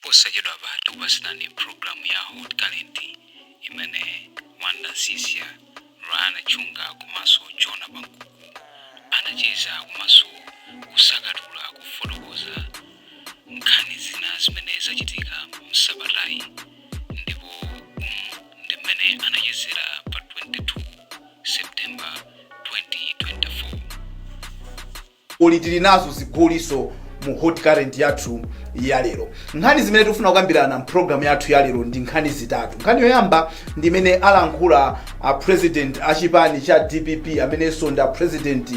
Posachedwapa tikupatsirani programu ya Hot Current imene Wonder Msiska, Leonard Chunga komanso Jona Pankuku anacheza komanso kusakatula kufotokoza nkhani zina zimene zachitika msabatayi ndipo umu ndi mmene anachezera pa 22 september 2024 koma tili nazo zigoliso mu hot current yathu ya lero nkhani zimene tikufuna kukambirana mpulogalamu yathu ya lero ndi nkhani zitatu nkhani yoyamba ndi imene alankhula a president a chipani cha dpp amenenso ndi a president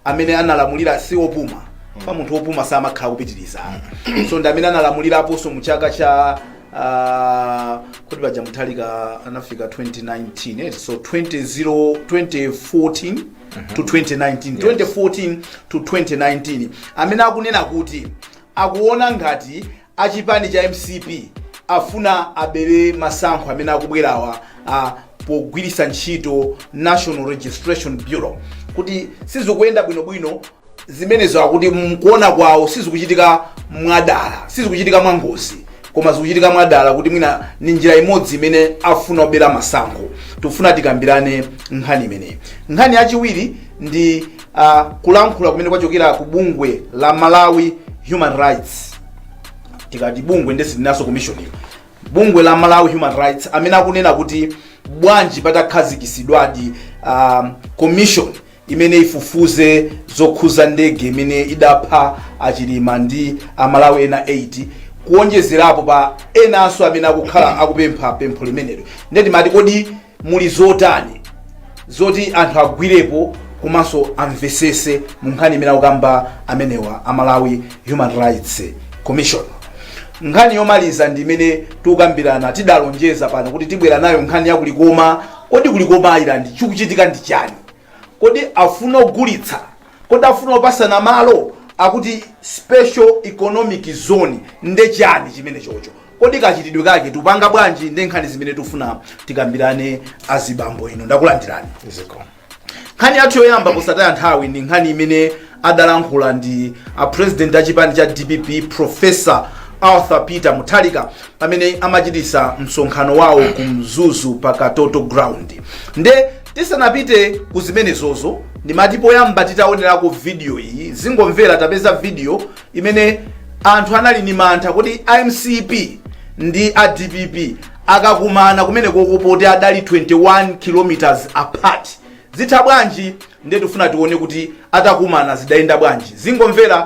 amene analamulira si opuma pa munthu opuma samakhala kupitiriza koma ndi amene analamuliraponso mu chaka cha ah, kuti paja muthalika anafika 2019 eh, so 20, 2014 to 2019 2014 to 2019 amene akunena kuti akuona ngati achipani cha mcp afuna abere masankho amene akubwerawa ah, pogwiritsa ntchito national registration bureau kuti sizikuyenda bwinobwino zimenezo akuti mkuona kwawo sizikuchitika mwadala sizikuchitika mwangozi koma zikuchitika mwadala kuti mwina ni njira imodzi imene afuna obera masankho tikufuna tikambirane nkhani imeneyi nkhani yachiwiri ndi uh, kulankhula kumene kwachokera ku bungwe la malawi human rights tikati bungwe nde sinanso commission bungwe la malawi human rights amene akunena kuti bwanji patakhazikisidwadi um, commission imene ifufuze zokhuza ndege imene idapha a Chilima ndi a Malawi ena 8 kuonjezerapo pa enanso amene akhala akupempha pempho limenelo ndiye timati kodi muli zotani zoti anthu agwirepo komanso amvesese mu nkhani imene akukamba amenewa a Malawi Human Rights Commission nkhani yomaliza ndi imene tikukambirana tidalonjeza pano kuti tibwera nayo nkhani ya ku Likoma kodi ku Likoma Island chikuchitika ndi chani kodi afuna ogulitsa kodi afuna opasana malo akuti special economic zone nde chani chimene chocho kodi kachitidwe kake tupanga bwanji ndi nkhani zimene tifuna tikambirane azibambo ino ndakulandirani zikomo nkhani yathu yoyamba posataya nthawi ndi nkhani imene adalankhula ndi a president a chipani cha dpp professor arthur peter mutharika pamene amachitisa msonkhano wawo ku mzuzu pa katoto ground nde Tisanapite ku zimenezozo, ndimati poyamba titaonerako video iyi, zingomvera tapeza video imene anthu anali ni mantha kodi a mcp ndi a dpp akakumana kumene koko poti adali 21 kilometers apart zitha bwanji ndiye tifuna tione kuti atakumana zidayenda bwanji zingomvera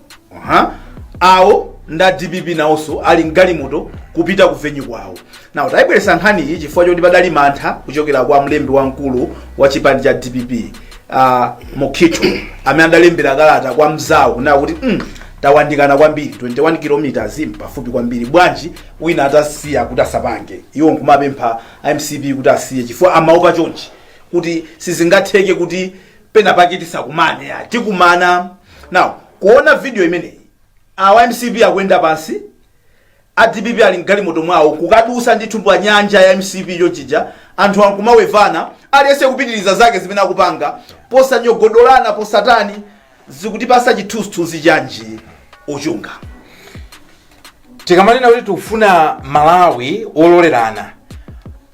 Aha. awo nda dpp nawonso ali mgalimoto kupita ku venue kwawo now tayibweresa nkhani iyi chifukwa choti padali mantha kuchokera kwa mlembi wamkulu wa chipani cha dpp uh, mukhito amene adalembera kalata kwa mzawo kunena kuti mm, tawandikana kwambiri 21 kilometers mpafupi kwambiri bwanji wina atasiya kuti asapange iwo nkumapempha mcp kuti asiye chifukwa amaopa chonchi kuti sizingatheke kuti pena pake tisakumane ya tikumana now kuona video imeneyi awa mcp akuyenda pansi a dpp ali mgalimoto mwawo kukadusa ndithu mu nyanja ya mcp yochija anthu ankumawevana aliyense kupitiriza zake zimene akupanga posanyogodolana posatani zikutipasa chithunzithunzi chanji ochunga tikamanena kuti tikufuna malawi wololerana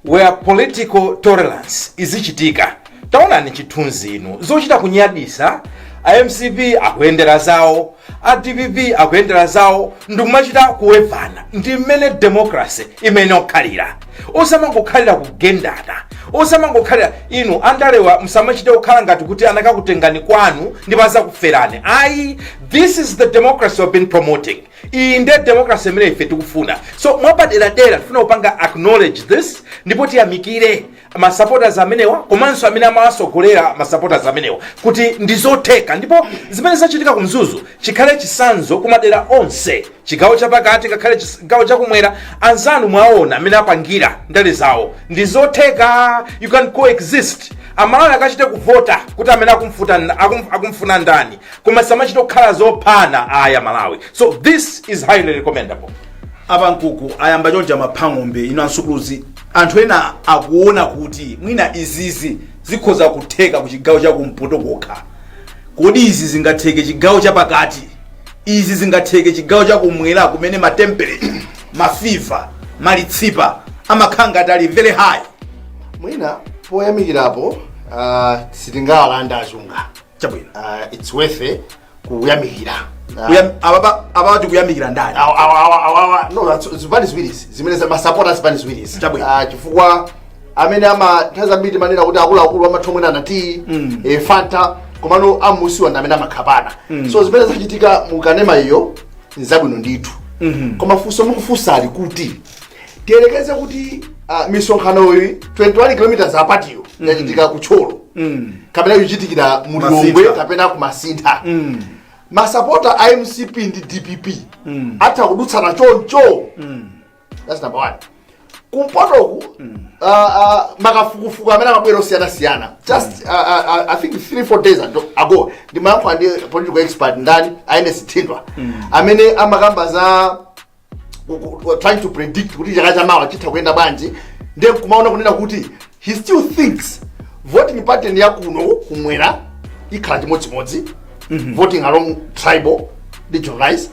where political tolerance izichitika taonani chithunzi ichi zochita kunyadisa a mcp akuyendera zawo a dpp akuyendera zawo ndikumachita kuwevana ndi mmene democracy imayenera kukhalira osamangokhalira kugendana osamangokhalira inu andalewa msamachite kukhala ngati kuti anakakutengani kwanu ndipo azakuferani ayi this is the democracy we've been promoting iyi nde democracy imene ife tikufuna so mwapaderadera tifuna kupanga acknowledge this ndipo tiyamikire masupporters amenewa komanso amene amawasogolera masupporters amenewa kuti ndizotheka ndipo zimene zachitika ku mzuzu chikhale chisanzo kumadera onse chigawo chapakati ngakhale chis- chigawo chakumwera anzanu mwaona mmene apangira ndale zawo ndizotheka you can coexist amalawi akachite kuvota kuti amene akumfuta nda- akum- akumfuna ndani koma osamachita kukhala zophana aya malawi so this is highly recommendable aba nkuku ayamba chonja maphang'ombe inu ansukuluzi anthu ena akuona kuti mwina izizi zikhoza kutheka ku chigawo cha kumpoto kokha kodi izi zingatheke chigawo chapakati izi zingatheke chigawo chakumwera kumene matemperature mafiva malitsipa amakhala ngati ali very high mwina poyamikirapo uh, sitingawalande a chunga chabwino uh, its worth it kuyamikira Ah, Kuyam- ababa ababa tikuyamikira ndani awa- awa- awa- awa- awa- no, that's- zipani ziwirizi zimene za- masapota a zipani ziwirizi Chabwino. Ah, chifukwa amene ah nthawi zambiri timanena kuti akuluakulu amatha kumwerana tiyi Mm. eh, fanta komano amunsiwa ndi amene amakhapana Mm. so zimene zachitika mu kanema iyo nzabwino ndithu Mhm. koma funso mukufunsali kuti tiyerekeze kuti ah, misonkhanoyi 21 km apatiyo yachitika ku thyolo Mm. kapena yochitikira mu lilongwe kapena kumasintha Mm. masapota a mcp ndi dpp Mm. atha kudutsana choncho Mm. that's number one kumpotoku mm. uh, uh, makafukufuku amene amabwera osiyanasiyana just mm. uh, uh, uh, i think three four days ago, ago ndimayankhula ndi political expert ndani aende sithindwa mm. amene amakamba za trying to predict kuti chaka chamawa chitha kuyenda bwanji ndiye kumaona kunena kuti he still thinks voting pattern ya kuno kumwera ikhala chimodzimodzi mm -hmm. voting along tribal region lines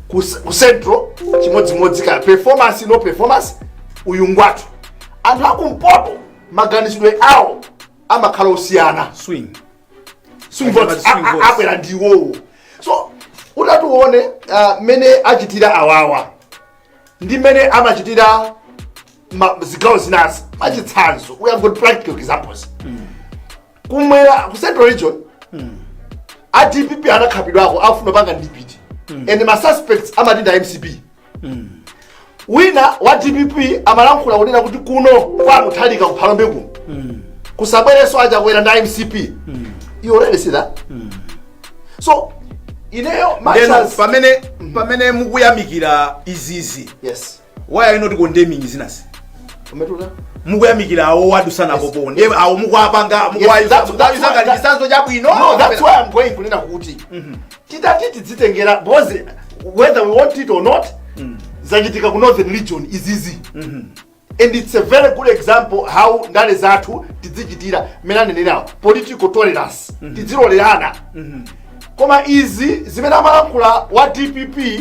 ku ku central chimodzimodzi ka performance no performance uyu ngwathu anthu akumpoto maganizidwe awo amakhala osiyana swing swing Amachama votes swing A- a- votes. abwera ndi iwowo so utati uwone ah, mmene achitira awawa ndi mmene amachitira ma- zigawo zinazi machitsanzo we have got practical examples kumwera ku central region a dpp anakhapidwako akufuna panga dibeti and ma suspects amati nda mcp wina wa dpp amalankhula kunena kuti kuno kwa Muthalika kuphalombe kuno kusabwerenso aChakwera nda mcp you already see that so ineyo my Then chance pamene pamene mukuyamikira izizi yes why are you not condemning zinazi Umetula? mukuyamikira awo wadusanapo po ndiye awo mukuwapanga Yes, mukuwayuza that's- that's mukuwayuza why- ngati that- chitsanzo chabwino No, that's why I'm going kunena kuti titati tidzitengera because whether we want it or not zachitika ku northern region izizi and it's a very good example how ndale zathu tidzichitira mmene anenerawo political tolerance tidzilolerana koma izi zimene amalankhula wa dpp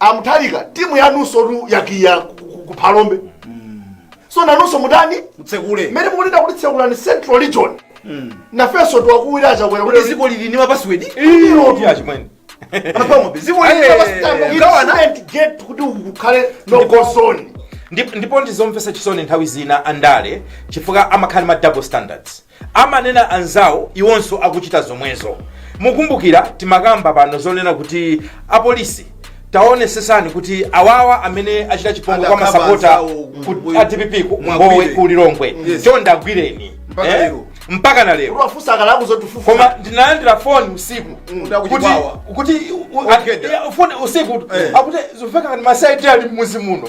amuthalika timu yanunso tu yakiya ku- ku- ku phalombe so nanunso mutani mtsekule mmene mukunena kuti tsekulani central region nafenso tiwakuwira achakwera kuti kuti dziko lili ndi mapasiwedi Iyo, achimwene apamobe dziko gawana get kuti kukhale no go zone Ndip- ndipo ndizomvesa chisoni nthawi zina andale chifukwa amakhala ma double standards amanena anzawo iwonso akuchita zomwezo. mukumbukira timakamba pano zonena kuti apolisi tawonetsetsani kuti awawa amene achita chipongwe kwa Adakaba masapota anzawo ku- ku- a dpp ku- Mwagwire. ngowe ku lilongwe Yes. chonde agwireni Mpaka Eh? lero. mpaka na lero uliwafunsa akadali akutifufuza koma ndinalandira foni usiku Kuti akuti kuti kwawa. kuti u- Ogeda. a- foni usiku Eh. akuti zomveka ngati masaiti ali mmuzi muno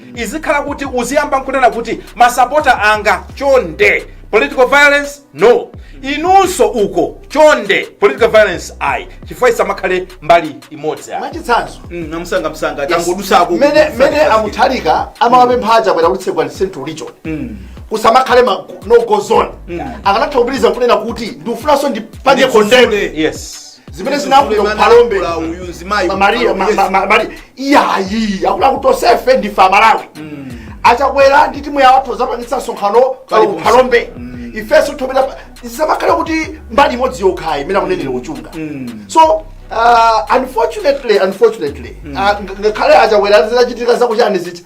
izikhala kuti uziyamba nkunena kuti masapota anga chonde political violence no inunso uko chonde political violence ayi chifukwa isamakhale mbali imodzi ayi mwachitsanzo Mm, namusanga msanga tangodusako mene mene amuthalika amawapempha aChakwera kuti tsegulani central region kusamakhale ma no go zone akanatha kupitiriza kunena kuti ndikufunanso ndipange condemn yes zimene zinachitika kuphalombe maria iyayi akuti tonsefe ndife amalawi mm. achakwera ndi timu yawo adzapangitsa msonkhano kuphalombe mm. ifenso zisamakhale kuti mbali imodzi yokhayi imene akunenera kuchunga mm. so Uh, unfortunately unfortunately mm. uh, ngakhale achakwera zinachitika zakuchani ziti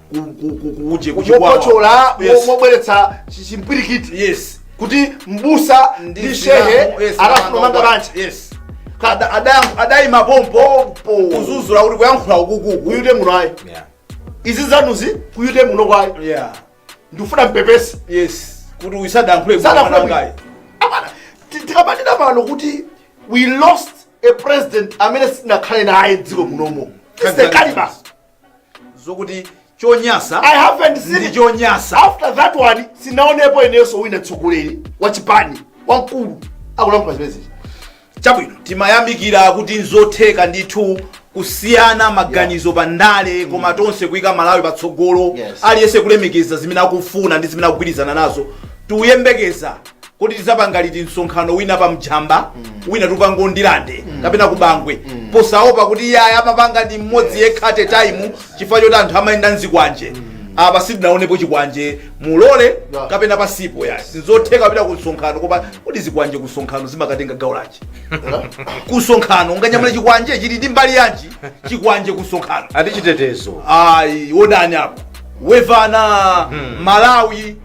kuje kuchokotchola mobweretsa chimpwirikiti yes kuti mbusa ndi shehe akafuna kumanga banja yes adayima pompo kuzuzula kuti kuyankhula ukuku ku youth muno ayi yeah izi zanuzi ku youth muno ayi yeah ndifuna mupepese yes kuti uyu sadayankhule mwanangayi apana tikamati pano kuti we lost a president amene sitinakhale naye dziko munomo it's the caliber zokuti chonyasa i haven't seen it chonyasa after that one sindinaonepo inenso wina mtsogoleri wa chipani wamkulu akulankhula zimenezi chabwino timayamikira kuti nzotheka ndithu kusiyana maganizo pa ndale koma tonse kuyika malawi patsogolo Yes. aliyense kulemekeza zimene akufuna ndi zimene akugwirizana nazo tuyembekeza kodi tizapanga liti msonkhano wina pa njamba wina tikupanga ndirande kapena kubangwe posaopa kuti iyayi amapanga ndi mmodzi yekha at a time chifukwa choti anthu amayenda ndi zikwanje apa sitinaonepo chikwanje mulole Yeah. kapena pasipo ya sizotheka kupita ku msonkhano koma kodi zikwanje ku msonkhano zimakatenga gawo lanji ku msonkhano unganyamule chikwanje chili ndi mbali yanji chikwanje ku msonkhano akuti chitetezo ayi wodani apo wevana malawi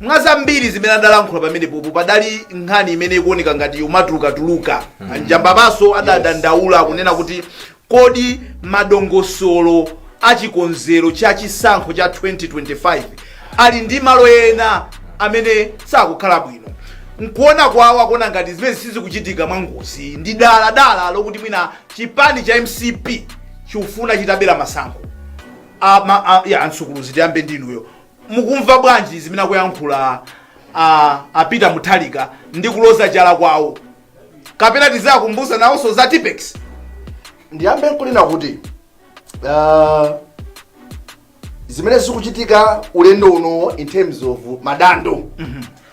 mwa zambiri zimene adalankhula pamenepopo padali nkhani imene ikuoneka ngati ikumatulukatuluka pa njambaponso adadandaula kunena kuti kodi madongosolo a chikonzero cha chisankho cha 2025 ali ndi malo ena amene sakukhala bwino nkuona kwawo akuona ngati zimenezi sizikuchitika mwangozi ndi dala dala lokuti mwina chipani cha mcp chikufuna chitabera masankho ama a- ya ansukuluzi tiyambe ndinuyo mukumva bwanji zimene akuyankhula a, a peter mutharika ndi kuloza chala kwawo kapena tizakumbusa nawonso za tippex ndiyambe nkunena kuti uh, zimene zikuchitika ulendo uno in terms of madando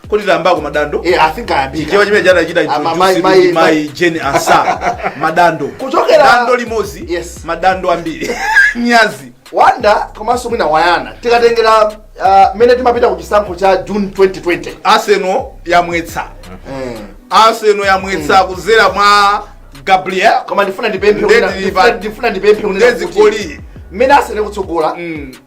kodi tayambako madando Eh, I think ayambika. ndichija chimene anachita Ah, ma- introduce ma- ndi ma- mayi jane ansah madando Kuchokera- dando limodzi Yes. madando ambiri nyazi wanda komanso mwina wayana tikatengera ah, mmene timapita ku chisankho cha june 2020 arsenal yamwetsa Eh. arsenal yamwetsa kudzera mwa gabriel koma ndifuna ndipemphe Ndezi kuti- ndifuna- lipa- ndifuna ndipemphe kuti- ndezi kuti- goli. mmene arsenal kutsogola Mm.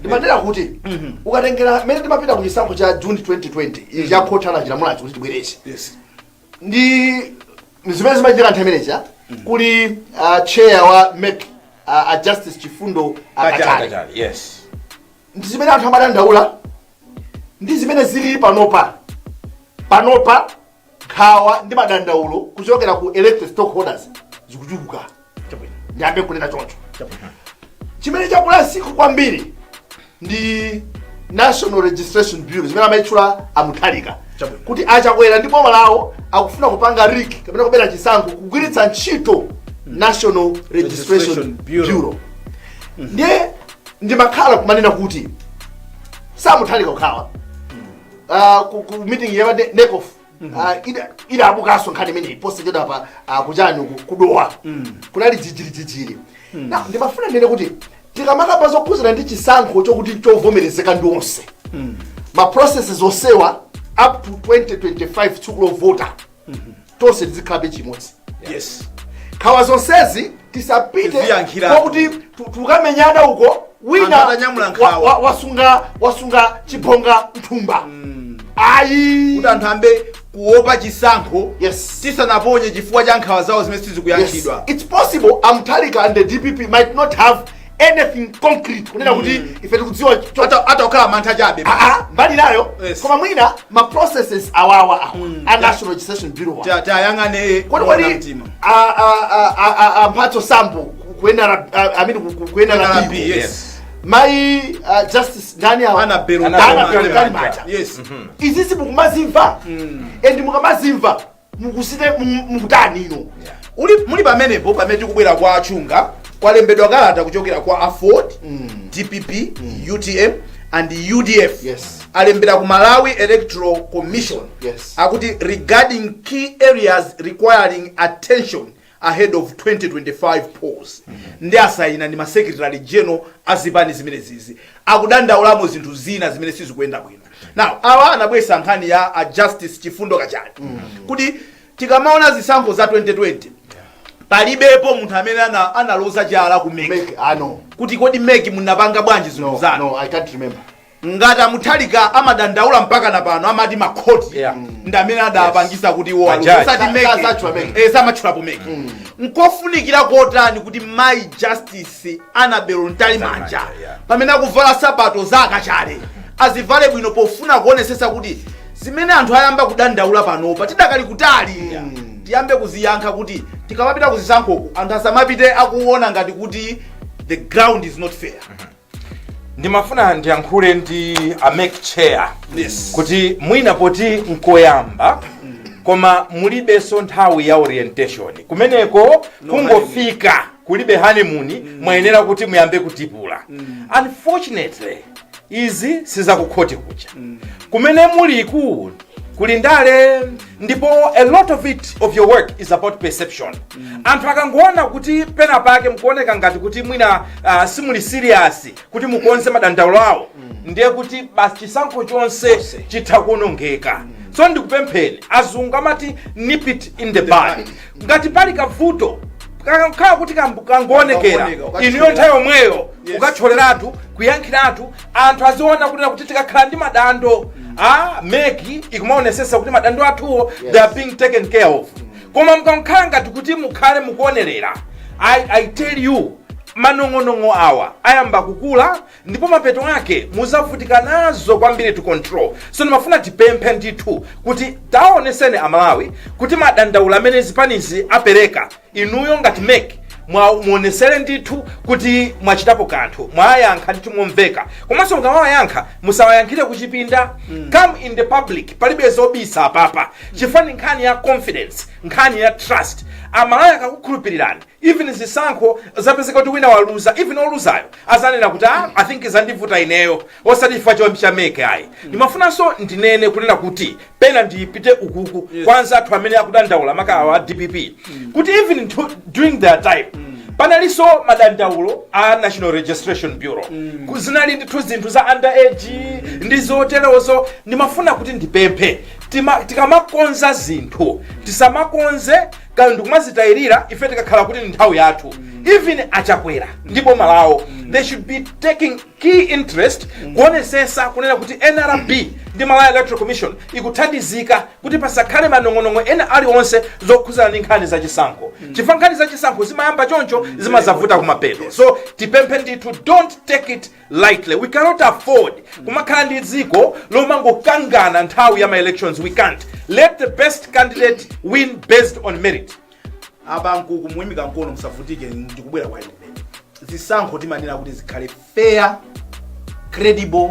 ndimanena kuti ukatengera mmene timapita ku chisankho cha june 2020 ichi cha khoti anachilamulachi kuti tibwereze yes ndi zimene zimachitika nthawi imeneja kuli ah, chair wa mec ah, a justice chifundo kachale kachale yes ndi zimene anthu amadandaula ndi zimene zili panopa panopa Nkhawa ndi madandaulo kuchokera ku electoral stakeholders zikuchuluka. Chabwino. Ndiyambe kunena choncho. Chabwino. Chimene chakulitsitsa kwambiri ndi National Registration Bureau imene amayitchula a Mutharika Chabwino. kuti a Chakwera ndi boma lawo akufuna kupanga rig kapena kubera chisankho kugwiritsa ntchito National Registration Registration Bureau. Bureau. Ndiye ndimakhala kumanena kuti si a Mutharika okha awa ah, ku ku meeting ya ne- NECOF ah, ida- idabukanso nkhani imeneyi posachedwa pa ah, kuchani uku ku Dowa kunali jijirijijiri na ndimafuna ndinene kuti tikamakamba zokhuzana ndi chisankho chokuti chovomerezeka ndi onse ma processes onsewa up to 2025 tsiku lovota tonse tizikhala pachimodzi yes nkhawa zonsezi tisapite Tiziyankhira. kwakuti ti- tikamenyana uko wina Anthu atanyamula wa- nkhawa. wa- wasunga wasunga chibonga mthumba ayi kuti anthu ayambe kuopa chisankho Yes. tisanaponye chifukwa cha nkhawa zawo zimene Yes. sizikuyankhidwa It's possible a Mutharika and the DPP might not have anything concrete kunena kuti mm. ife tikudziwa hata kukhala mantha chabe ah, ah, mbali nayo yes. koma mwina ma processes awawa awa mm. a national registration bureau tiwayang'ane kodi kodi a mphatso sambo kuyenera i mean kuyenera yes mai uh, justice ndani awa annabel annabel mtalimanja yes mm -hmm. izizi mukumazimva mm. and mukamazimva mukusite mu- mukutani ino Yeah. uli muli pamenepo pamene tikubwera kwa a chunga kwalembedwa kalata kuchokera kwa aford dpp utm and udf Yes. alembera ku malawi electoral commission Yes. akuti regarding key areas requiring attention ahead of 2025 polls nde asayina ndi ma secretary general a zipani zimenezizi akudandaulamo zinthu zina zimene sizikuyenda bwino now awa anabweretsa nkhani ya a justice chifundo kachale kuti tikamaona zisankho za 2020 palibepo munthu amene ana- analoza chala ku MEC MEC, I know. kuti kodi MEC munapanga bwanji zinthu No, zanu no, I can't remember. ngati a Mutharika amadandaula mpaka na pano amati makhoti Yeah. ndi amene adapangisa kuti iwo Majaji. aluze. Osati Sa- MEC. sazatchula MEC. Eh, samatchulapo MEC nkofunikira kotani kuti mai justice annabel mtalimanja Mtalimanja, yeah. pamene akuvala sapato za a kachale azivale bwino pofuna kuonesesa kuti zimene anthu ayamba kudandaula panopa tidakali kutali tiyambe kuziyankha kuti tikamapita kuzisankhoku anthu asamapite akuona ngati kuti the ground is not fair ndimafuna ndiyankhule ndi a mec chair kuti mwina poti nkoyamba koma mulibenso nthawi ya orientation kumeneko kungofika kulibe honeymoon mwayenera kuti muyambe kutipula unfortunately izi sizakukhoti kuja kumene muliku kuli ndale ndipo a lot of it of your work is about perception anthu akangoona kuti pena pake mukuoneka ngati kuti mwina uh, simuli serious kuti mukonze madandaulo awo ndiye kuti basi chisankho chonse chitha kuonongeka so ndikupempheni azungu amati nip it in the bud ngati pali kavuto kakhala kuti kangoonekera inuyo nthawi yomweyo mukatcholeratu kuyankhiratu anthu aziona kunena kuti tikakhala ndi madando a mec ikumaonesesa kuti madando athuwo they are being taken care of koma mukangokhala ngati kuti mukhale mukuonerera i tell you manong'onong'o awa ayamba kukula ndipo mapeto ake muzavutika nazo kwambiri to control so ndimafuna tipemphe ndithu kuti taoneseni amalawi kuti madandaulo amene zipanizi apereka inuyo ngati mec muonesere ndithu kuti mwachitapo kanthu mwayankha ndithu momveka komanso mukamawayankha musawayankhire kuchipinda come in the public palibe zobisa apapa chifukwa ndi nkhani ya confidence nkhani ya trust amalawi akakukhulupirirani even zisankho zapezeka kuti wina waluza even oluzayo azanena kuti ah, i think zandivuta ineyo osati chifukwa chinyengo cha mec ayi ndimafunanso ndinene kunena kuti pena ndipite ukuku kwa anzathu amene akudandaula maka awa a dpp kuti even during their time panalinso madandaulo a national registration bureau zinali ndithu zinthu za underage ndi zoterozo ndimafuna kuti ndipemphe tikamakonza zinthu tisamakonze kana ndikumazitayirira ife tikakhala kuti ndi nthawi yathu even a chakwera ndi boma lawo they should be taking Key interest Kuonesesa kunena kuti nrb ndi Malawi Electoral Commission ikuthandizika kuti pasakhale manong'onong'o ena aliwonse zokhuzana ndi nkhani za chisankho chifukwa nkhani za chisankho zimayamba choncho zimazavuta kumapeto so tipemphe ndithu don't take it lightly we cannot afford kumakhala ndi dziko lomangokangana nthawi ya ma elections we can't let the best candidate win based on merit abambo nkukumuimika mkono musavutike ndikubwera kwa inu kumene zisankho timanena kuti zikhale fair credible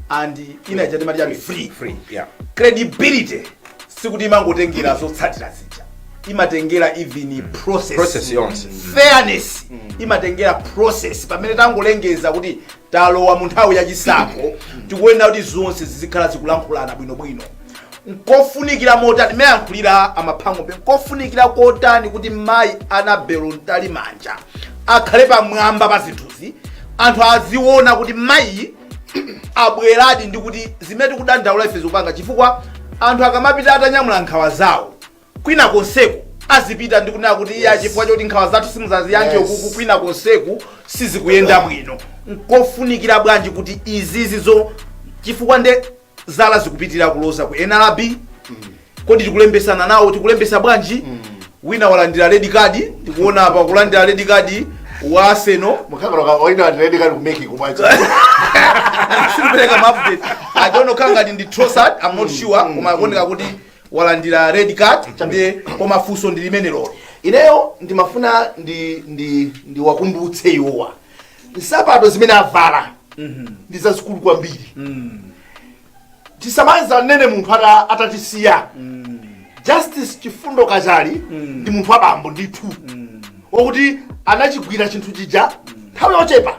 and ina ija timati chati free free yeah credibility sikuti imangotengera zotsatira zija imatengera even process yonse. fairness imatengera process pamene tangolengeza kuti Talowa mu nthawi ya chisankho, tikuyenera kuti zonse zizikhala zikulankhulana bwinobwino. Nkofunikira motani mmene ayankhulira a Mphang'ombe, nkofunikira kotani kuti mayi Annabel Mtalimanja akhale pamwamba pa zinthuzi, anthu aziona kuti mayiyi abweradi ndi kuti zimene tikudandaula ife zikupanga chifukwa anthu akamapita atanyamula nkhawa zawo kwina konseku azipita ndi kunena kuti iya chifukwa choti nkhawa zathu simuzaziyankhe Yes. ukuku kwina konseku sizikuyenda bwino nkofunikira bwanji kuti izizi zo chifukwa nde zala zikupitirira kuloza ku nrb koma tikulembesana nawo tikulembesa bwanji wina walandira red card ndikuona apa kulandira red card wa Arsenal mukhakaloka oyina ati red card kumeki kumwachi sakupereka maupdate i don't know kaya ndi Trossard i'm not sure koma akuoneka kuti walandira red card ndi koma funso ndi limenelolo ineyo ndimafuna ndi ndi ndiwakumbutse iwowa nsapato zimene avala ndi zazikulu kwambiri tisanamizane munthu amene atatisiya justice chifundo kachali ndi munthu wabambo ndithu wakuti anachigwira chinthu chija nthawi yochepa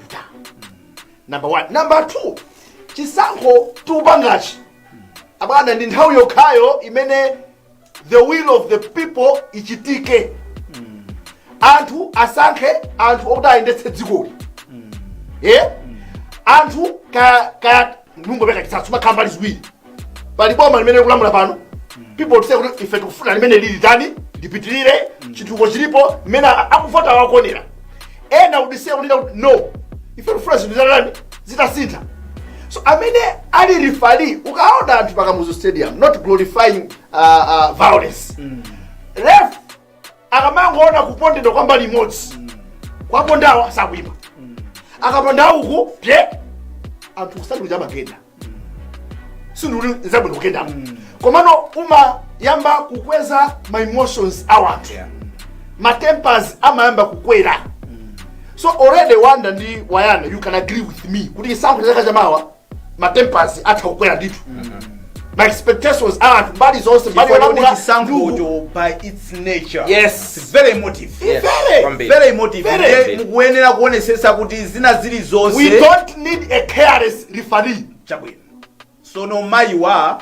number one number two chisankho tikupangachi abwana ndi nthawi yokhayo imene the will of the people ichitike anthu asankhe anthu okuti ayendetse dzikoli ye anthu ka- ka- ndingopereka chitsanzo mumakhala mbali ziwiri pali boma limene likulamula pano people say kuti ife tikufuna limene lili tani lipitirire chitukuko chilipo mmene akuvota wakonera ena akudziwa kunena kuti no ife tikufuna zinthu zatani zitasintha so amene ali referee ukaona anthu pa Kamuzu Stadium not glorifying uh, uh, violence ref akamangoona kupondedwa kwa mbali imodzi akaponda awa sakuimba akaponda uku pye anthu sikuti amagenda sindikuti nzabwino kugenda komano umayamba kukweza ma emotions a anthu ma tempers amayamba kukwera so already Wonder ndi Wayana you can agree with me kuti chisankho cha chaka chamawa ma tempers atha kukwera ndithu ma expectations a anthu mbali zonse mbali Chifukwa kuti yolamula chisankhocho by its nature Yes. It's very emotive Yes, Very. kwambiri. very emotive Very. Ndiye mukuyenera kuonesesa kuti zina zilizonse we don't need a careless referee chabwino sono mayiwa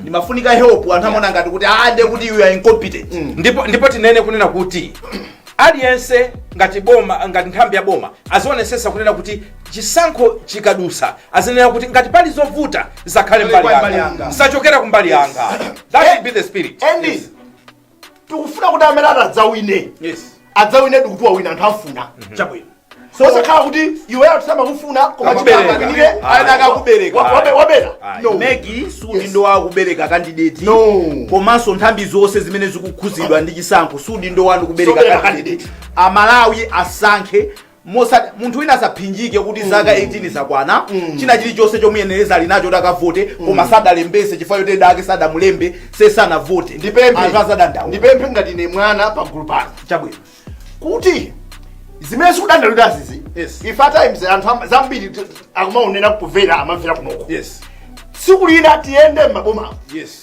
ndimafuna help anthu amaona ngati kuti ah ndiye kuti you are incompetent ndipo ndipo tinene kunena kuti aliyense ngati boma ngati nthambi ya boma azaonesesa kunena kuti chisankho chikadusa azanena kuti ngati pali zovuta zisakhale mbali Mbali yanga yanga. zisachokere kumbali yanga that should be the spirit Andy, tikufuna kuti amene atadzawine adzawine ndikuti wawina anthu amufuna chabwino osakhala kuti iwe anthu samakufuna koma Amakubereka. chipani chikakamire Ana akakubereka. wabera Ayi. no MEC si udindo wakubereka kandideti No. komanso nthambi zonse zimene zikukhuzidwa ndi chisankho si udindo wanu kubereka Zobereka kandideti aMalawi asankhe osati munthu wina asaphinjike kuti zaka 18 zakwana china chilichonse chomuyenereza ali nacho kuti akavote koma sadalembese chifukwa choti dala sadamulembe kuti asavote ndipemphe anthu azadandaula ndipemphe ngati ine mwana pagulu pano chabwino kuti zimene tikudandaulira zizi Yes. if at times anthu am- zambiri t- akumaonera kumvera amamvera kunoko yes siku lina tiyende m'maboma yes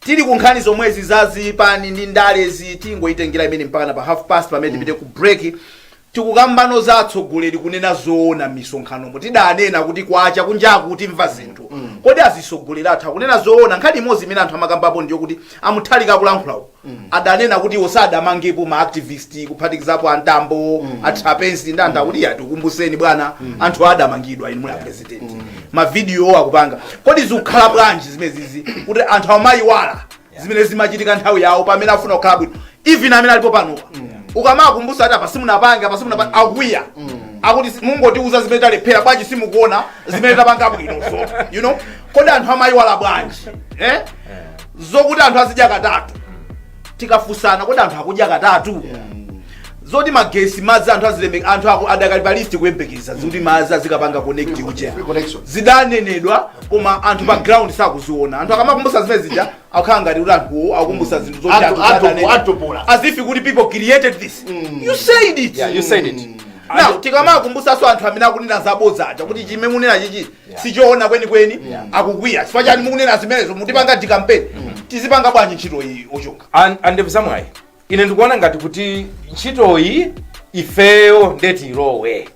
Tili ku nkhani zomwezi za zipani ndi ndalezi, tingoitengera imeneyi mpakana pa half past pamene tipite ku break. Tikukambano za atsogoleri kunena zoona m'misonkhanomo. Tidanena kuti kwacha kunjaku timve zinthu. Kodi azitsogoleri athu akunena zoona? Nkhani imodzi imene anthu amakambapo ndiyo kuti a Mutharika akulankhula uko. Adanena kuti iwo sadamangepo ma activist kuphatikizapo a Mtambo, a Trapence ndi anthu akuti "Iya, tikumbuseni bwana, anthu adamangidwa inu muli a president." president mavidiyo akupanga kodi zikukhala bwanji zimezizi kuti anthu amayiwala zimene zimachitika nthawi yawo pamene afuna kukhala bwino even amene alipo pano ukamaakumbusa ati apa simunapange apa simunapange akwiya akuti si- mungotiuza zimene talephera bwanji simukuona zimene tapanga bwinozo you know kodi anthu amayiwala bwanji eh? zokuti anthu azidya katatu tikafusana kodi anthu akudya katatu zoti magesi madzi anthu azilemba anthu adakali pa list kuyembekeza zokuti madzi azikapanga connect ulere Free connection. zidanenedwa koma anthu pa ground sakuziona anthu akamaakumbusa zimene zija akukhala ngati kuti anthuwo akukumbusa zinthu zoti Atu- anthu atu- sadanene. atupola. as if kuti people created this you said it Yeah, you said it. now tikamaakumbusaso anthu amene akunena zabodza aja kuti chimene munena chichi Yeah. sichoona kwenikweni Yeah. akukwiya chifukwa chani mukunena zimenezo mutipanga dikampeni tizipanga bwanji ntchito iyi oChonga An- aNdevuzamwayi ine ndikuona ngati kuti ntchitoyi ifeyo ndiye ilowe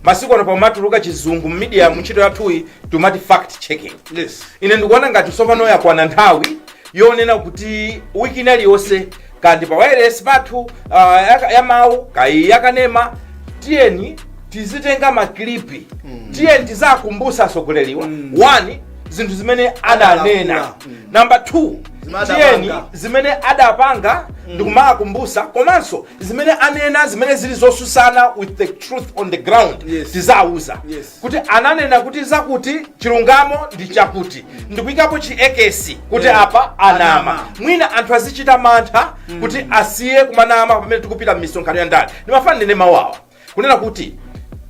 masiku ano pamatuluka chizungu mmidiya mu ntchito yathuyi timati fact checking yes ine ndikuona ngati tsopano yakwana nthawi yonena kuti wiki inaliyonse kanthu pa wireless pathu uh, ya, ya mawu kaya yakanema tiyeni tizitenga maklipi mm. tiyeni tiziakumbusa asogoleriwa mm. one zinthu zimene adanena mm. namba two Zimene tiyeni adapanga. zimene adapanga mm. ndikumaakumbusa komanso zimene anena zimene zili zosusana with the truth on the ground Yes. tiziawuza Yes. kuti ananena kuti zakuti chilungamo ndi chakuti ndikuyikapo chi ekesi kuti Yeah. apa anama mwina anthu azichita mantha kuti asiye kumanama pamene tikupita m'misonkhano ya ndale ndimafuna ndinene mawu awa kunena kuti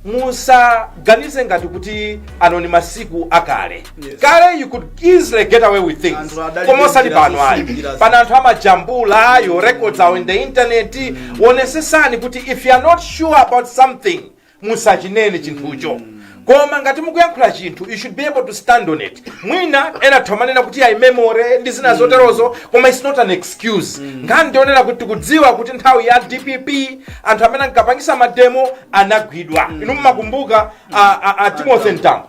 musaganize ngati kuti ano ni masiku akale Yes. kale you could easily get away with things koma osati pano ayi pano anthu amajambula your records are in the internet onesesani kuti if you are not sure about something musachinene chinthucho koma ngati mukuyankhula chinthu you should be able to stand on it mwina ena atha kumanena kuti ayi memory ndi zina zoterozo koma it's not an excuse nkhani ndi yonena kuti tikudziwa kuti nthawi ya dpp anthu amene ankapangisa mademo anagwidwa inu mumakumbuka a- a- a timothy ntambo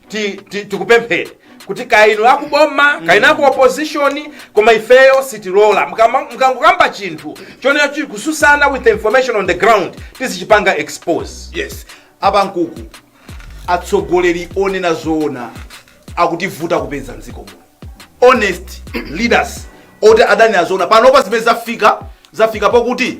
ti- ti- tikupemphera kuti kaya inu akuboma kaya inu aku opposition koma ifeyo sitilola Mukama- mukangokamba chinthu chomwe chikususana with the information on the ground tizichipanga expose yes apa nkuku atsogoleri onena zoona akutivuta kupeza mdziko muno honest leaders oti azinena zoona panopa zimene zafika zafika pokuti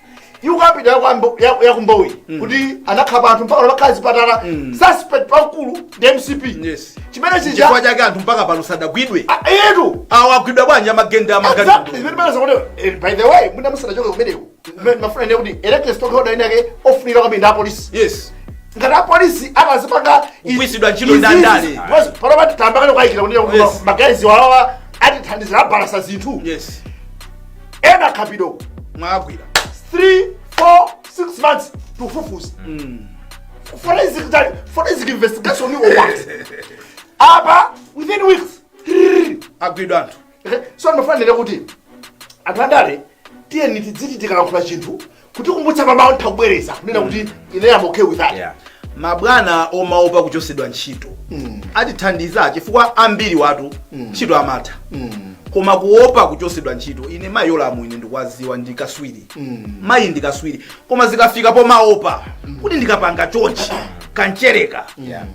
ikukambidwa yaku Mbowe mm. kuti anakhapa anthu mpaka anakhala zipatala mm. suspect pankulu ndi mcp yes. chimene chifukwa chake anthu mpaka pano sadagwidwe etu awo agwidwa bwanji amagenda eh, by the way mwina musanachoke kumeneko ndimafuna ndinene kuti elected stakeholder inayake yofunika kwambiri a police yes ngati apolisi atazipanga kugwisidwa ntchito ndandale panopa tayamba kale kukayikira kuti ngakhale awawa atithandiza abalalisa zinthu yes ena Kapito mwagwira 3 4 6 months tufufuza forensic tali forensic investigation or what apa within weeks trrr, agwidwa anthu Eh, so ndimafuna ndinene kuti anthu andale tiyeni tidziti tikalankhula chinthu kutikumbutsa mmawa ntha kubwereza kunena kuti ine am okay with that yeah. mabwana omaopa kuchosedwa ntchito mm. satithandiza chifukwa ambiri awatu mm. ntchito mm. amaitha mm. koma kuopa kuchosedwa ntchito ine mayi yolamu ine ndikuwaziwa ndikaswiri mm. mayi ndikaswiri koma zikafika pomaopa mm. kuti ndikapanga chonchi kancheleka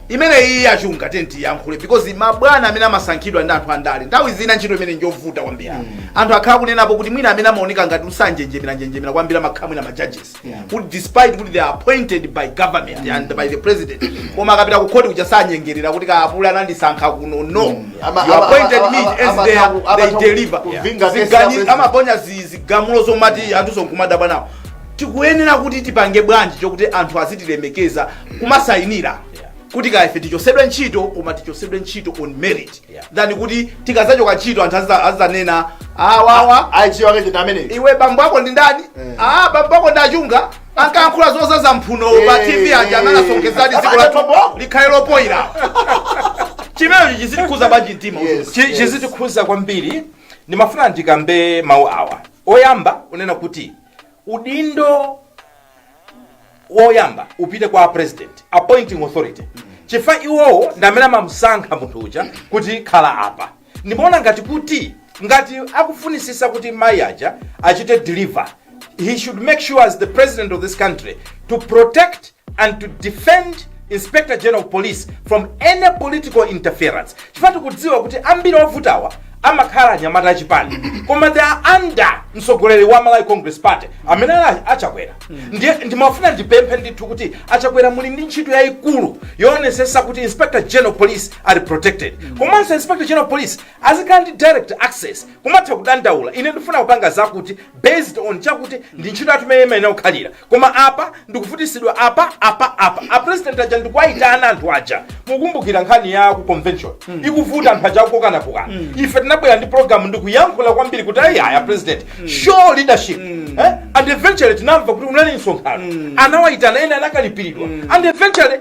imeneyi ichuluka tandiyankhule because mabwana amene amasankhidwa ndi anthu andale nthawi zina ntchito imeneyi njovuta kwambiri anthu akhala akunenapo kuti mwina amene amaoneka ngati sanjenjemera njenjemera kwambiri amakhala mwina majudges kuti despite kuti they are appointed by government and by the president koma akapita ku khoti kuja sanyengerera kuti kaapule anandisankha kuno no you appointed me as they deliver amaponya zi- zigamulo zomati anthu nkumadabwa nawo tikuyenera kuti tipange bwanji chokuti anthu azitilemekeza kumasayinira kuti kaife tichosedwe ntchito koma tichosedwe ntchito on merit Yeah. than kuti tikazachoka ntchito anthu aziza- azizanena awawa achiwa kache ndi amene iwe bambo ako ndi ndani ah bambo ako ndi achunga ankayankhula zozaza mphunowo pa tv aja anasokonezadi dziko lathu likhale lopoyira chimenecho chizitikhudza bwanji mtima Yes. Chi- chizitikhudza kwambiri ndimafuna ndikambe mawu awa Oyamba kunena kuti udindo woyamba upite kwa apresident appointing authority chifukwa iwowo ndi amene amamusankha munthu uja kuti khala apa ndimaona ngati kuti ngati akufunisisa kuti mayi aja achite deliver he should make sure as the president of this country to protect and to defend inspector general of police from any political interference chifukwa tikudziwa kuti ambiri ovutawa amakhala anyamata achipani koma they are under mtsogoleri wa malawi congress party amene ali achakwera ndiye ndimafuna ndipemphe ndithu kuti achakwera muli ndi ntchito yayikulu yoonetsetsa kuti inspector general of police ali protected komanso inspector general of police azikhala ndi direct access kumatha kudandaula ine ndifuna kupanga zakuti based on chakuti ndi ntchito yathu imene imayenera kukhalira koma apa ndikuvutisidwa apa apa apa apresident aja nkuwayitana anthu aja mukumbukira nkhani ya ku convention ikuvuta anthu aja akukokanakokana ife tinabwera ndi program ndikuyankhula kwambiri kuti ayi aya president show leadership eh? and eventually tinamva kuti kunali msonkhano anawayitana ena anakalipiridwa and eventually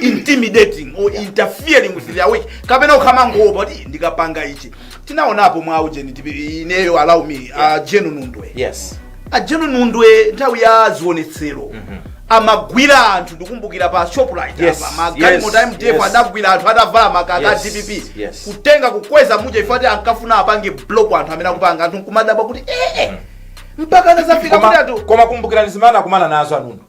intimidating or interfering with their work kapena ukumangowopa kuti ndikapanga ichi tinaonapo mwa ujeni tipi- ineyo allow me a jenu nundwe yes a jenu nundwe nthawi ya zionetsero amagwira anthu ndikumbukira pa shoprite Yes, apa magalimoto yes, mdf yes. adagwira anthu atavala makaka a Yes, dpp yes. kutenga kukweza muja ife ngati ankafuna apange block anthu amene akupanga anthu nkumadabwa kuti ee mpaka anazafika kuti koma anthu koma kumbukirani zimene anakumana nazo anundwe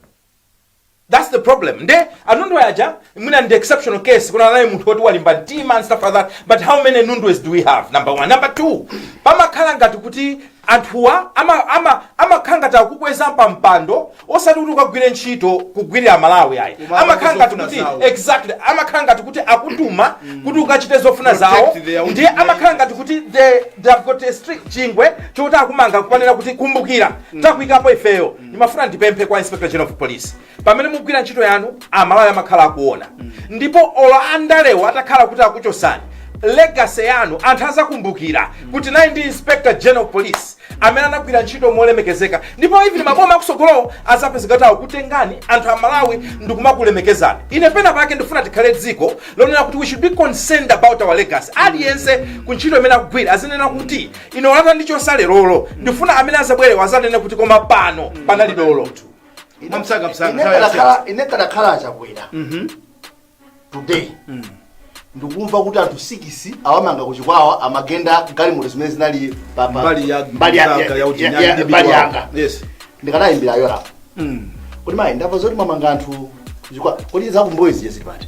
That's the problem. Nde anundwe aja mwina ndi exceptional case tinali naye munthu woti walimba mtima and stuff like that. But how many nundwes do we have? Number one. Number two. Pamakhala ngati kuti anthuwa ama ama amakhala ngati akukweza pa mpando osati kuti ukagwire ntchito kugwirira Malawi ayi. Koma Amakhala ngati zofuna kuti zawo. exactly amakhala ngati kuti akutuma kuti ukachite zofuna zawo Protect their own ndiye amakhala ngati kuti they they have got a strict chingwe chokuti akumanga kunena kuti kumbukira takuikapo ifeyo ndimafuna ndipemphe kwa inspector general of police pamene mugwira ntchito yanu amalawi amakhala akuona ndipo olo andalewo atakhala kuti akuchosani legacy yanu anthu azakumbukira kuti nayi ndi inspector general of police amene anagwira ntchito molemekezeka ndipo even maboma akusogolowo azapezeka atha kukutengani anthu amalawi ndikumakulemekezani ine pena pake ndifuna tikhale dziko lonena kuti we should be concerned about our legacy aliyense ku ntchito imene akugwira azinena kuti ine olo atandichosa lerolo ndifuna amene azabwerewo azanene kuti koma pano panali dolo mwamsanga msanga nthawi yasiyana. ine nkadakhala a chakwera today ndikumva kuti anthu sikisi awamanga kuchikwawa amagenda galimoto zimene zinali pa- pa- mbali ya mbali ya- mzaka ya ya- uchinyani ya- ndi mbali bibi yanga wako. yes ndikanayimbira yolamu kuti mayi ndamva zoti mwamanga anthu kuchikwawa kodi za ku mbowe zija zili pati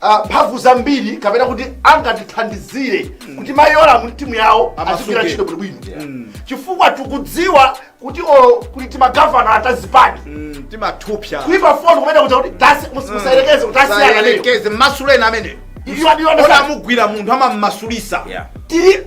ah, mphamvu zambiri kapena kuti angatithandizire kuti mayi yolamu timu yawo azigwira Amasuke. ntchito bwinobwino chifukwa tikudziwa kuti olo kuti timagavana ta zipani Mm, timathupsa kuimba foni kumene kuja kuti tasi- mus- musayerekeze kuti asiyana nayo sayerekeze mmasuleni amene iyo ndiyo ona amugwira munthu amammasulisa Yeah. tiri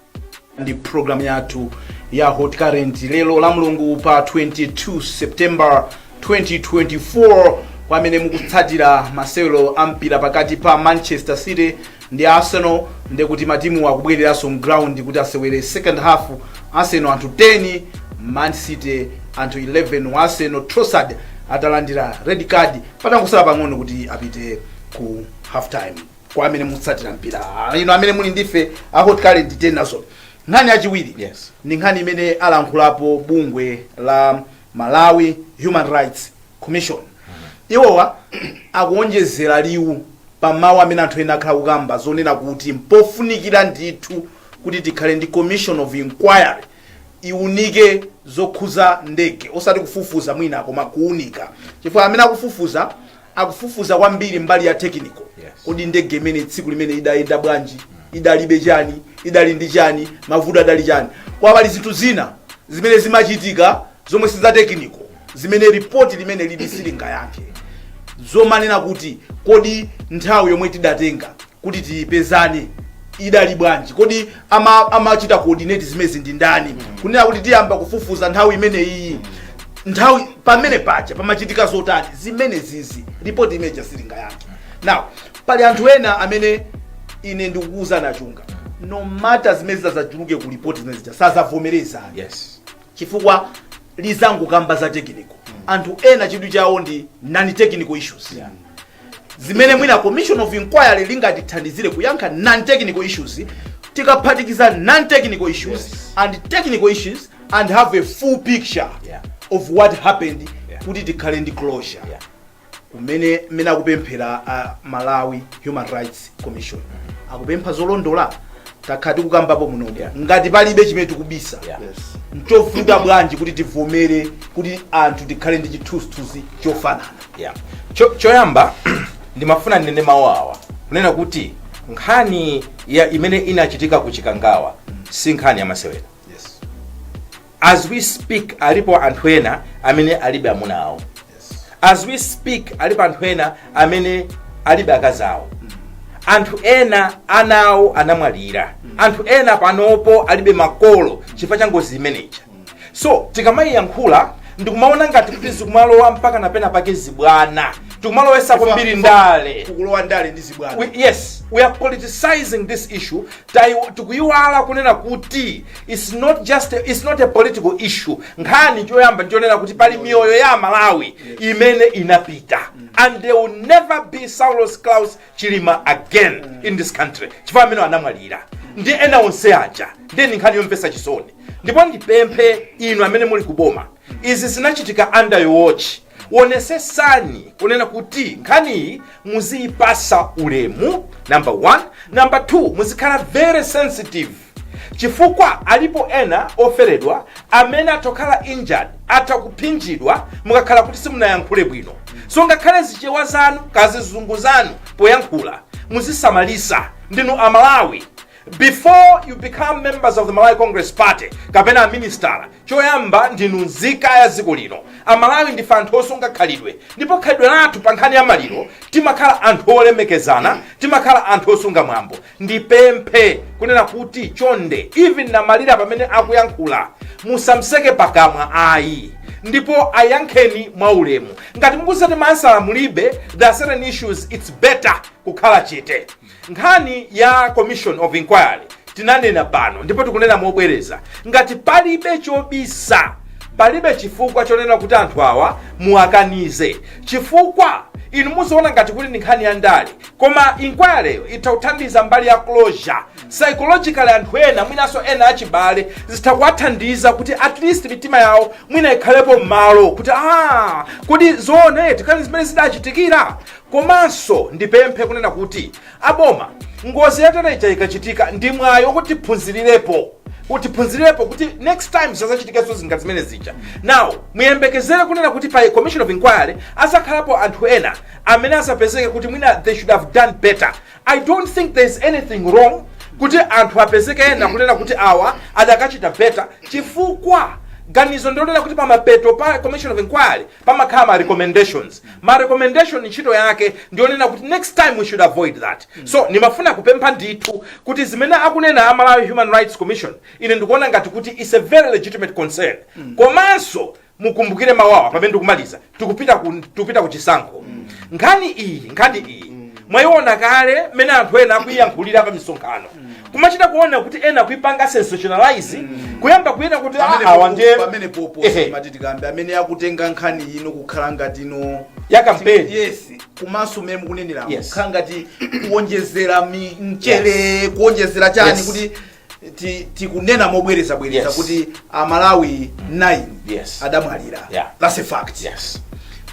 ndi program yathu ya hot current lero la mulungu pa 22 september 2024 kwa amene mukutsatira masewero a mpira pakati pa manchester city ndi arsenal ndi kuti matimu akubwereranso mground kuti asewere second half arsenal anthu 10 man city anthu 11 wa arsenal trossard atalandira red card patangosala pang'ono kuti apite ku half time kwa amene mukutsatira mpira Ah, ino amene muli ndife a hot current tiye nazo nkhani yachiwiri Yes. ndi nkhani imene alankhulapo bungwe la malawi human rights commission iwowa akuonjezera liwu pa mawu amene anthu ena akhala akukamba zonena kuti mpofunikira ndithu kuti tikhale ndi commission of inquiry iunike zokhuza ndege osati kufufuza mwina koma kuunika chifukwa amene akufufuza akufufuza kwambiri mbali ya technical Yes. kodi ndege imene tsiku limene idayenda bwanji idalibe chani idali ndi chani mavuto adali chani koma pali zinthu zina zimene zimachitika zomwe si za technical zimene ripoti limene lili silingayankhe zomanena kuti kodi nthawi yomwe tidatenga kuti tipezane idali bwanji kodi ama- amachita coordinate zimezi ndi ndani kunena kuti tiyamba kufufuza nthawi imeneyiyi nthawi pamene paja pamachitika zotani zimene zizi ripoti imeja silingayankhe now pali anthu ena amene ine ndikukuuzani a chunga no matter zimene zitazatuluke ku ripoti zimene zija sazavomereza yes chifukwa lizangokamba za technical anthu ena chidwi chawo ndi non-technical issues Yeah. zimene mwina commission of inquiry lingatithandizire kuyankha non-technical issues tikaphatikiza non-technical issues Yes. and technical issues and have a full picture Yeah. of what happened Yeah. kuti tikhale ndi closure Yeah. kumene mmene akupemphera a malawi human rights commission akupempha zolondola takhala tikukambapo munomo Yeah. ngati palibe chimene tikubisa Yeah. Yes. nchovuta bwanji kuti tivomere kuti anthu tikhale ndi chithunzithunzi chofanana yeah. Cho, choyamba ndimafuna ndinene mawu awa kunena kuti nkhani imene inachitika ku chikangawa si nkhani yamasewera as we speak alipo anthu ena amene alibe amuna awo as we speak alipo anthu ena amene alibe akazi awo anthu ena ana awo anamwalira anthu ena panopo alibe makolo chifukwa cha ngozi imeneyi so tikamaiyankhula ndikumaona ngati kuti zikumalowa mpaka napena pake zibwana tikumalowesa kwambiri ndale kukulowa ndale ndi zibwana we, yes we are politicizing this issue Tai- tikuyiwala kunena kuti it's not just a, it's not a political issue nkhani choyamba ndichonena kuti pali miyoyo ya amalawi imene inapita and there will never be saulos klaus chilima again in this country chifukwa amene anamwalira ndi ena onse aja ndiye ndi nkhani yomvetsa chisoni ndipo ndipemphe inu amene muli kuboma izi zinachitika under your watch wonesesani kunena kuti nkhaniyi muziyipasa ulemu number one number two muzikhala very sensitive chifukwa alipo ena oferedwa amene atha kukhala injured atha kuphinjidwa mukakhala kuti simunayankhule bwino so ngakhale zichewa zanu kazizungu zanu poyankhula muzisamalisa ndinu amalawi before you become members of the malawi congress party kapena aminisitala choyamba ndinu nzika ya dziko lino amalawi ndife anthu osunga khalidwe ndipo khalidwe lathu pa nkhani ya maliro timakhala anthu olemekezana timakhala anthu osunga mwambo ndipemphe kunena kuti chonde even namalira pamene akuyankhula musamseke pakamwa ayi ndipo ayankheni mwaulemu ngati mukuti maansala mulibe there are certain issues its better kukhala chete nkhani ya commission of inquiry tinanena pano ndipo tikunena mobwereza ngati palibe chobisa palibe chifukwa chonena kuti anthu awa muwakanize chifukwa inu muziona ngati kuti ndi nkhani ya ndale koma inquiry itha kuthandiza mbali ya closure psychologically anthu ena mwinanso ena achibale zitha kuwathandiza kuti at least mitima yawo mwina ikhalepo m'malo kuti ah kodi zoone tikani zimene zidachitikira komanso ndipemphe kunena kuti aboma ngozi yatereja ikachitika ndi mwayi wokuti tiphunzirirepo kuti tiphunzirirepo kuti next time zisazachitikenso zinga zimene zija now muyembekezere kunena kuti pa commission of inquiry azakhalapo anthu ena amene azapezeke kuti mwina they should have done better i don't think there is anything wrong kuti anthu apezeke ena kunena kuti awa adakachita better chifukwa ganizo ndilonena kuti pamapeto pa commission of inquiry pamakhala ma recommendations ma recommendation ntchito yake ndiyonena kuti next time we should avoid that so ndimafuna kupempha ndithu kuti zimene akunena a malawi human rights commission ine ndikuona ngati kuti is a very legitimate concern komanso mukumbukire mawu awa pamene tikumaliza tikupita ku tikupita ku chisankho nkhani iyi nkhani iyi mwayiona kale mmene anthu ena akuyiyankhulira pa misonkhano kumachita kuona kuti ena kuipanga sensationalize kuyamba kunena kuti "Ah, awa ndiye pamene poposa Ehe. timati tikambe amene akutenga nkhani ino kukhala ngati ino ya kampeni yes komanso mmene mukunenera Yes. kukhala ngati kuonjezera mi- mchere kuonjezera chani Yes. kuti Ti- tikunena mobwerezabwereza Yes. kuti amalawi 9 Yes. adamwalira Yeah. that's a fact yes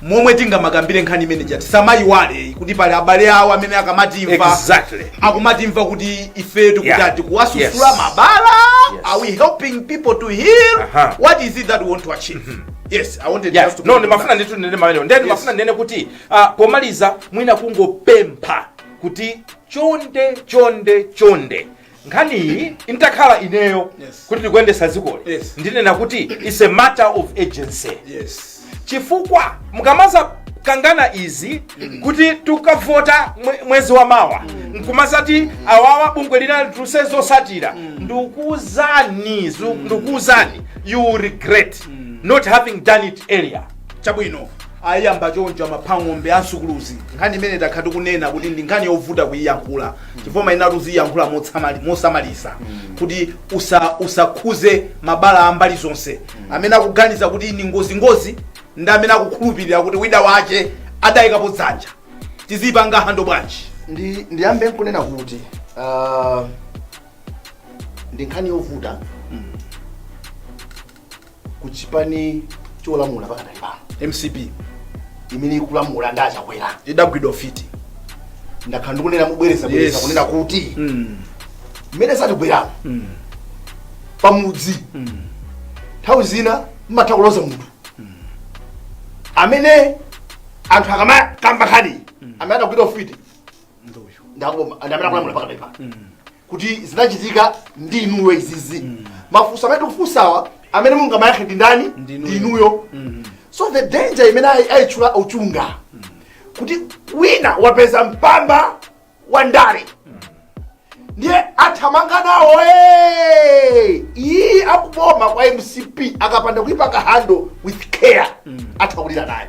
momwe tingamakambire nkhani imene ija tisamayiwale kuti pali abale awo amene akamatimva Exactly. akumatimva kuti ife tikuti Yeah. ati kuwasusula Yes. mabala Yes. are we helping people to heal Aha. what is it that we want to achieve yes i wanted Yeah, just to no ndimafuna ndithu ndinene mau amenewo ndiye ndimafuna ndinene kuti ah, pomaliza mwina kungopempha kuti chonde chonde chonde nkhaniyi nditakhala ineyo Yes. kuti ndikuyendesa zikoli Yes. ndinena kuti its a matter of urgency yes chifukwa mukamazakangana izi kuti tukavota mwe- mwezi wa mawa nkumazati awawa bungwe lina litulutse zotsatira ndikuuzani zu- ndikuuzani you will regret not having done it earlier chabwino ayamba choncho a Maphang'ombe a Msukuluzi nkhani imene takhala tikunena kuti ndi nkhani yovuta kuyiyankhula chifukwa umayenera kuti uziyankhula motsamali- mosamalitsa kuti usa- usakhuze mabala a mbali zonse amene akuganiza kuti ni ngozingozi ndi amene akukhulupirira kuti wina wache adayikapo dzanja tizipanga handle bwanji ndi ndiyambe nkunena kuti ah, ndi nkhani yovuta ku chipani cholamula pakadali pano mcp imene ikulamula ndi achakwera idagwidwa ufiti ndakhala ndikunena mubwereza bwereza Yes. kunena kuti mm. mmene zatigweramo mm. pamudzi nthawi zina mmatha kuloza munthu amene anthu akamakamba nkhani amene adagwidwa ufiti ndaboma ndi amene akulamula pakadali pano kuti zinachitika ndi inuyo izizi mafunso amene tikufunsawa amene mungamayankhe ndi ndani ndi inuyo so the danger imene ayi- ayitchula Uchunga kuti wina wapeza mpamba wa ndale ndiye athamanga nawo "Hey!" iyi akuboma kwa mcp akapanda kuipanga handle with care atha kulira nayo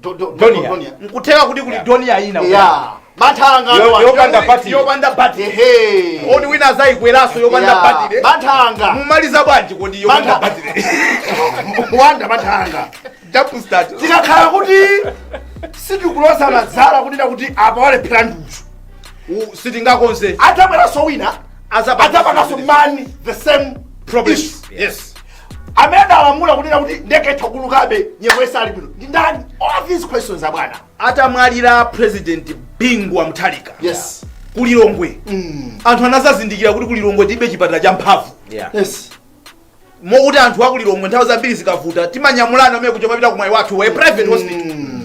Do- do- Donia. Donia. nkutheka kuti kuli Yeah. Donia ina Yeah. Bathanga Yo- ndo- yopanda battery. yopanda bati Ehe. oti wina azayikweraso yopanda Yeah. batire Bathanga. mumaliza bwanji kodi yopanda Mantha. batire Wanda bathanga. double start Tikakhala kuti sitikuloza zala kunena kuti apa walephera ndi uyu. U- sitingakonze Atabweranso wina. Azapanga Atapanganso something. man the same Problem. issue. yes amene alamula kunena kuti ndege itha kuulukabe nyengo isali bwino ndi ndani all these questions abwana atamwalira president bingu wa mutharika yes ku lilongwe mm. anthu anazazindikira kuti ku lilongwe tilibe chipatala cha mphamvu yeah. yes mokuti anthu a ku lilongwe nthawi zambiri zikavuta timanyamulana amene kuja kumapita ku mwaiwathu private hospital mm.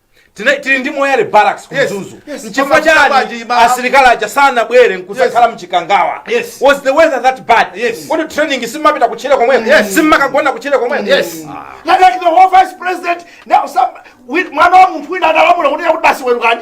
Tina- tili ndi moyale barracks ku Yes, mzuzu yes. nchifukwa Mama, chani mama, mama. asilikali aja sanabwere nkudzakhala mchikangawa Yes. was the weather that bad Yes. kodi training simmapita kutchire komweko Yes. simmakagona kutchire komweko Yes. Like, like the whole vice president now some with mwana wa munthu wina adalamula kuti yakuti basi bwererani.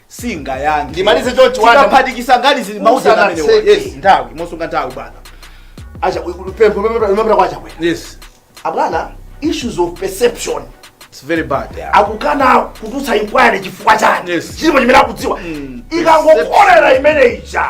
singayankhe Ndimalize chonchi, Wanda. tikaphatikiza ngati zili mauzi Usana amenewa seki. yes nthawi mosasunga nthawi bwana acha pempho limapita kwa chakwera yes abwana issues of perception it's very bad akukana kutulutsa inquiry chifukwa chani Yes. chilipo chimene akudziwa ikangokolera imene ija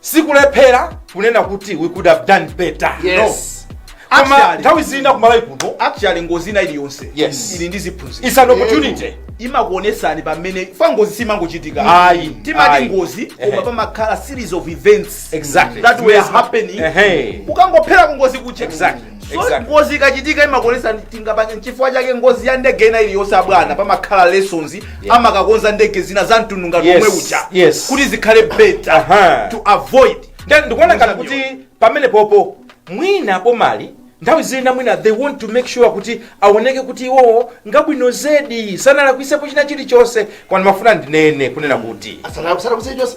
sikulephera kunena kuti we could have done better Yes. no koma Actually- nthawi zina kumalawi kuno actually ngozi ina iliyonse Yes. ili ndi ziphunzitso it's an opportunity imakuonetsani pamene paja ngozi simangochitika Ayi, timati ayi. ngozi Ehe. koma pamakhala series of events Exactly. that were Zimene zima- happening Ehe. ukangophera kungozi kuche Exactly. so Exactly. ngozi ikachitika imakuonetsa tingapange nchifukwa chake ngozi ya ndege ina iliyonse abwana pamakhala lessons amakakonza ndege zina za mtundu ngati Yes, omwe uja yes. kuti zikhale better Aha. to avoid then ndikuona ngati kuti pamene popo mwina pomali nthawi zina mwina they want to make sure kuti aoneke kuti iwowo ngabwino zedi sanalakwitsepo china chilichonse koma ndimafuna ndinene kunena kuti asalakusalakusechosa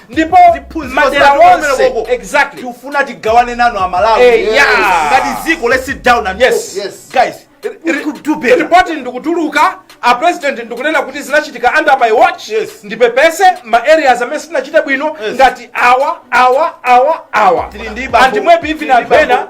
ndipo Ziphunzitso madera zathu onse kumenekoku. exactly tikufuna tigawane nanu amalawi Eh, Yes. yeah. ngati dziko let's sit down and Yes. talk. Yes. guys we could do better report ndikutuluka a president ndikunena kuti zinachitika under my watch Yes. ndipepese ma areas amene sitinachite bwino Yes. ngati awa awa awa awa Tili ndi bambo- and maybe even tili ndi anthu ena bambo-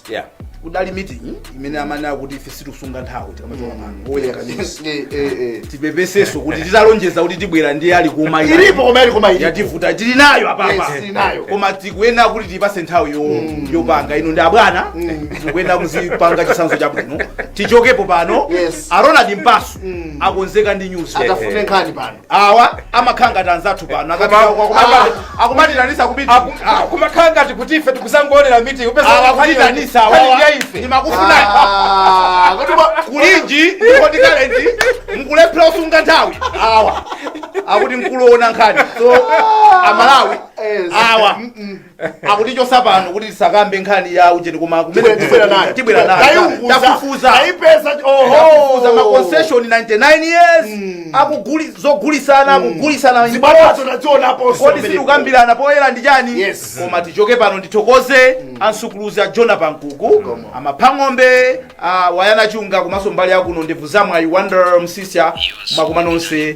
yeah kudali meeting imene amanena kuti ife sitisunga nthawi tikamachoka pano owerenga news Eh, eh, eh. tipepeseso kuti titalonjeza kuti tibwera ndiye ali kuma ina. ilipo koma ili koma ilipo yativuta tili nayo apapa Yes, tili nayo. koma tikuyenera kuti tipase nthawi yo- yopanga ino ndi abwana tikuyenera kuzipanga chitsanzo chabwino tichokepo pano Yes. a ronald mpaso akonzeka ndi news atafune nkhani pano awa amakhala ngati anzathu pano akumatiitanitsa kumakhala ngati kuti ife tikuzangoonera meeting akukuitanitsa ndimakufuna kulinji ndipo tikalenti mkulephera kusunga nthawi awa akuti mkulu oona nkhani so amalawi awa akutichosa pano kuti tisakambe nkhani ya ujeni koma kumene tibwera nayo tibwera nayo Taiunguza, tafufuza taipeza tafufuza ma oho concession 99 years akuguli zogulisana akugulisana in zibatakoti. zonadzionaponso kodi sitikukambirana poyera ndi chani Yes. koma tichoke pano ndithokoze a nsukuluzi a Jona Pankuku a Maphang'ombe a Wayana Chunga komanso mbali yakuno ndebvu zamwayi Wonder Msisya mwakumana nonse